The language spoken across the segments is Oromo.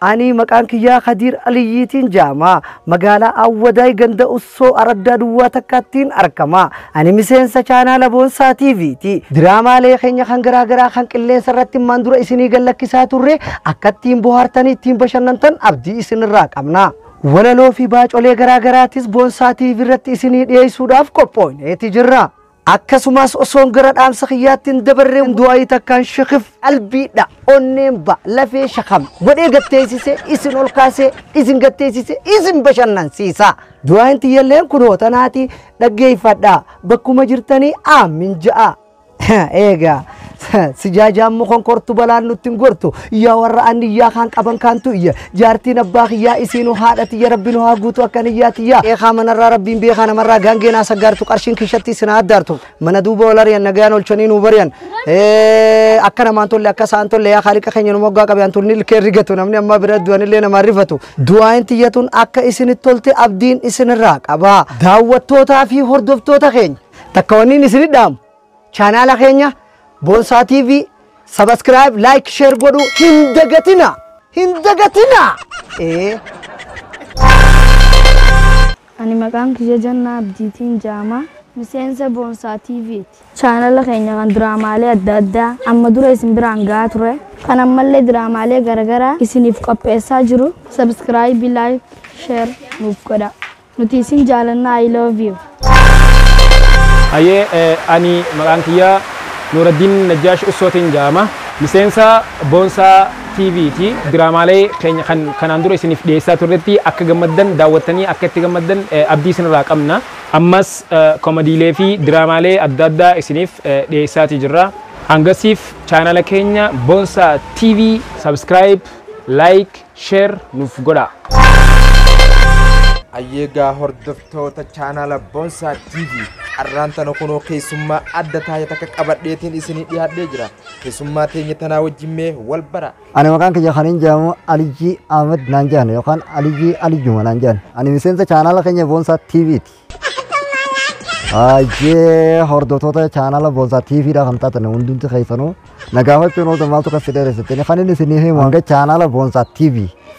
Ani maqaan kiyyaa Kadiir Aliyyiitiin jaama. Magaalaa Awwadaay ganda Ussoo araddaa duwwaa takkaattiin arkama. Ani miseensa chaanaala Boonsaa TV ti. Diraamaalee keenya kan garaa garaa kan qilleensa irratti ammaan dura isinii gad lakkisaa turre akka ittiin bohaartanii ittiin bashannantan abdii isinirraa qabna. Walaloo fi baacolee garaa garaatis Boonsaa TV irratti isinii dhiyeessuudhaaf qophooyneeti jirra. Akkasumaas osoon gara dhaamsa kiyyaatti hin dabarree du'aayii takkaan shekif qalbii dha onneen ba lafee shakam godhee gatteessisee isin ol kaasee isin gatteessisee isin bashannansiisaa. Du'aayin tiyyalleen kunoo tanaati dhaggeeffadhaa bakkuma jirtanii aammin ja'a. Eegaa. Sijaajaammu konkortu balaan nutti hin gortu yaa warra anniyyaa kaan qaban kaantu iyya jaartiin abbaa kiyyaa isiinu haadha tiyya rabbi nu haa guutu akka niyyaa tiyyaa eekaa manarraa rabbiin beekaa namarraa gaangee naa saggaartu qarshiin kishatti isin haa addaartu mana duuba wal ari'an nagayaan olchanii nuu bari'an akka namaan tolle akka sa'aan tolle yaa kaaliqa keenya nu moggaa qabe antuun ni ilkee rigatu namni ammaa bira du'an illee namaa rifatu du'aayin tiyyatuun akka isinitti tolte abdiin isinirraa qaba daawwattootaa fi hordoftoota keenya takka wanniin isinidhaamu Chaanaala keenya Boonsaa TV subscribe, like, share godhu hin dagatina! Hin dagatina! Ee. Ani maqaan kiyya Jannaa Abdiitiin Jaama. Miseensa Boonsaa TV'ti. Chaanala keenya kan diraamaalee adda addaa amma dura isin biraan gahaa ture. Kan ammallee diraamaalee garagaraa isiniif qopheessaa jiru. Subscribe, like, share nuuf godhaa. Nuti isin jaalanna I love you. Hayyee ani maqaan kiyya Nuuraddiin Najjaash Ussootiin ja'ama. Miseensa Boonsaa TV ti. Diraamaalee keenya kan kanaan dura isiniif dhiyeessaa turretti akka gammaddan, daawwattanii akka itti gammaddan abdii isinirraa qabna. Ammas komadiilee fi diraamaalee adda addaa isiniif dhiyeessaatii jirra. Hangasiif chaanala keenya Boonsaa TV subscribe, like. share nuuf godhaa. Ayyeegaa hordoftoota chaanaala Bonsaa TV har'aan tana kunoo keessummaa adda taa'e takka qabadheetiin isinii dhiyaadhee jira. Keessummaa teenya tanaa wajjin mee wal bara. Ani maqaan kiyya kan hin jedhamu Alijii Ahmed naan jedhan yookaan Alijii Alijuma naan jedhan. Ani miseensa chaanaala keenya Boonsaa TV ti. Ajee hordoftoota chaanala Boonsaa TV dha kan taatan hundumti keessanuu nagaafachuun ooltan maaltu kan si dheeressitanii kan inni isinii himu hanga chaanala Boonsaa TV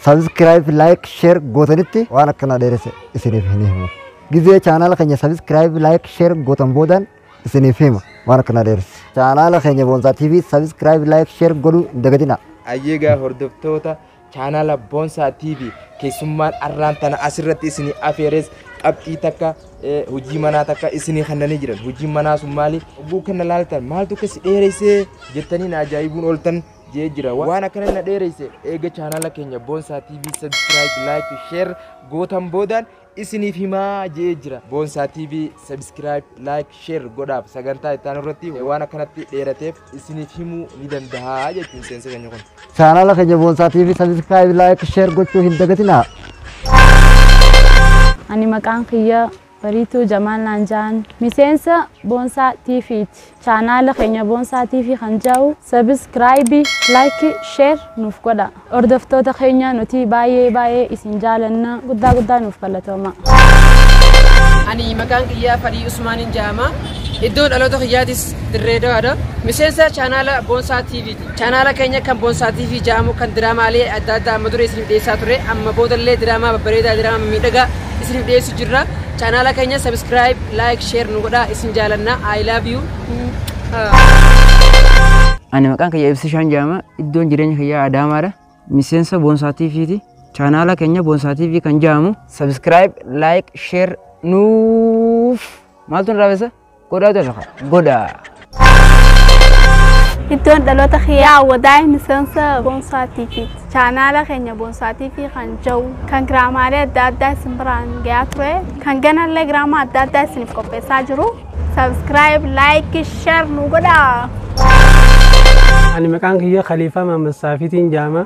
sabiskiraayib laayik sheer gootanitti waan akkana dheeresse isiniif hin himu. Gizee chaanala keenya sabiskiraayib laayik sheer gootan boodaan isiniif hima waan akkana dheeresse. Chaanala keenya Boonsaa TV sabiskiraayib laayik sheer godhuu hin dagatinaa. Ayyeegaa hordoftoota Chaanaala Boonsaa TV keessummaan arraan tana asirratti isinii afeeres qabxii takka eh, hojii manaa takka isinii kennanii jiran. Hojiin manaa sun maali? Oguu kenna laaltan maaltu akka si dheereessee jettanii na ajaa'ibuun ooltan jee jira. Wa- Waan akkana na dheereesse eega chaanaala keenya Boonsaa TV subscribe, like, share gootan boodaan isiniif himaa je'ee jira. Boonsaa TV subscribe, like, share godhaaf sagantaa itti aanu irratti waan akkanatti dheerateef isiniif himuu ni dandaha jechuun miseensa keenya kun. Chaanaala keenya Boonsaa TV subscribe, like, share gochuu hin dagatinaa. Ani maqaan kiyya Bariituu Jamaal naan ja'an. Miseensa Boonsaa TV'ti. Chaanaala keenya Boonsaa TV kan ja'u Subscribe, Like, Share nuuf godhaa. Hordoftoota keenya nuti baay'ee baay'ee isin jaalanna. Guddaa guddaa nuuf galatoomaa. Ani maqaan kiyyaa Farii Usmaaniin ja'ama. Iddoo dhaloota kiyyaatis Dirree Dawaadha. Miseensa chaanaala Boonsaa TV ti. Chaanaala keenya kan Bonsaa TV ja'amu kan diraamaalee adda addaa amma dura isiniif dhiyeessaa ture amma boodallee diraamaa babbareedaa diraamaa miidhagaa isiniif dhiyeessu jirra. Chaanaala keenya subscribe, like, share nu godhaa isin jaalanna. I love you. Ani maqaan kiyya Ibsishaan Jaama iddoon jireenya kiyyaa Adaamaadha. Miseensa Boonsaa TVti. Chaanaala keenya Boonsaa TV kan ja'amu subscribe, like, share nuuf maaltu nu raawwisa? Godhaa jedha kan. Godhaa. Iddoon dhaloota kiyyaa wadaa'e miseensa Boonsaa TV. Chaanaala keenya Boonsaa TV kan jau kan giraamaalee adda addaa isin biraan gayaa ture. Kan ganallee giraamaa adda addaa isiniif qopheessaa jiru. Sabiskiraayib, laayikii, sheer nu godhaa. Ani maqaan kiyya Khaliifaa Maammassaafiitiin jaama.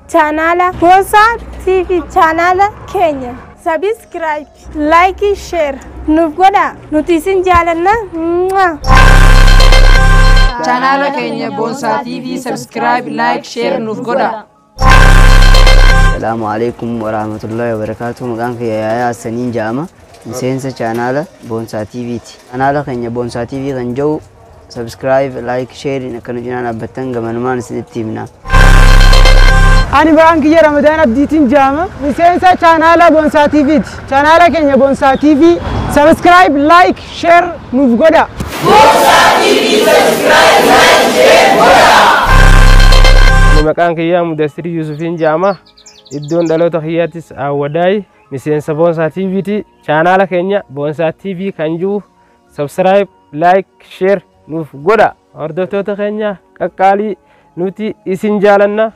Chaanaala Boonsaa TV chaanaala keenya sabiskiraayib, laayikii, sheer nuuf godhaa nuti isin jaalanna. Mwah. Chaanaala keenya Boonsaa TV sabiskiraayib, laayik, sheer nuuf godhaa. Salaamu alaikum warahmatullahi wabarakatuh. Maqaan kiyya Yaayaa Hassaniin jedhama. Miseensa chaanaala Boonsaa TV ti. Chaanaala keenya Boonsaa TV kan jedhu Subscribe, like, share'n akka nu cinaa dhaabbattan gamanumaan isinitti himna. Ani maqaan kiyya Ramadaan Abdiitiin jaama. Miseensa chaanaala Bonsaa TV ti. Chaanaala keenya Bonsaa TV subscribe, like, share nuuf godha. Ani maqaan kiyyaa Mudassir Yuusufiin jaama. Iddoon dhaloota kiyyaattis Awwadaay miseensa Boonsaa TV ti. Chaanaala keenya Boonsaa TV kan jiru Subscribe, like, share nuuf godha. Hordoftoota keenya qaqqaalii nuti isin jaalanna.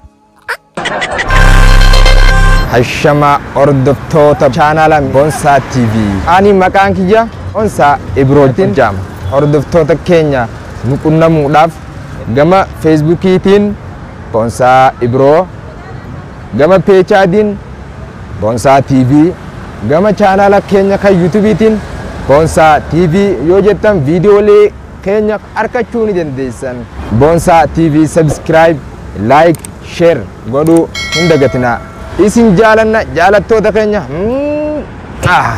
Hashama hordoftoota chaanaala Bonsaa TV. Ani maqaan kiyya Bonsaa Ibrootiin jaama. Hordoftoota keenya nu qunnamuudhaaf gama Feesbuukiitiin Bonsaa Ibroo gama peechaadiin Bonsaa TV, gama chaanaala keenya kan yuutubiitiin Bonsaa TV yoo jettan viidiyoolee keenya arkachuu ni dandeessan. Bonsaa TV subscribe, like, share godhuu hin dagatinaa. Isin jaalanna jaalattoota keenya. Mm, ah.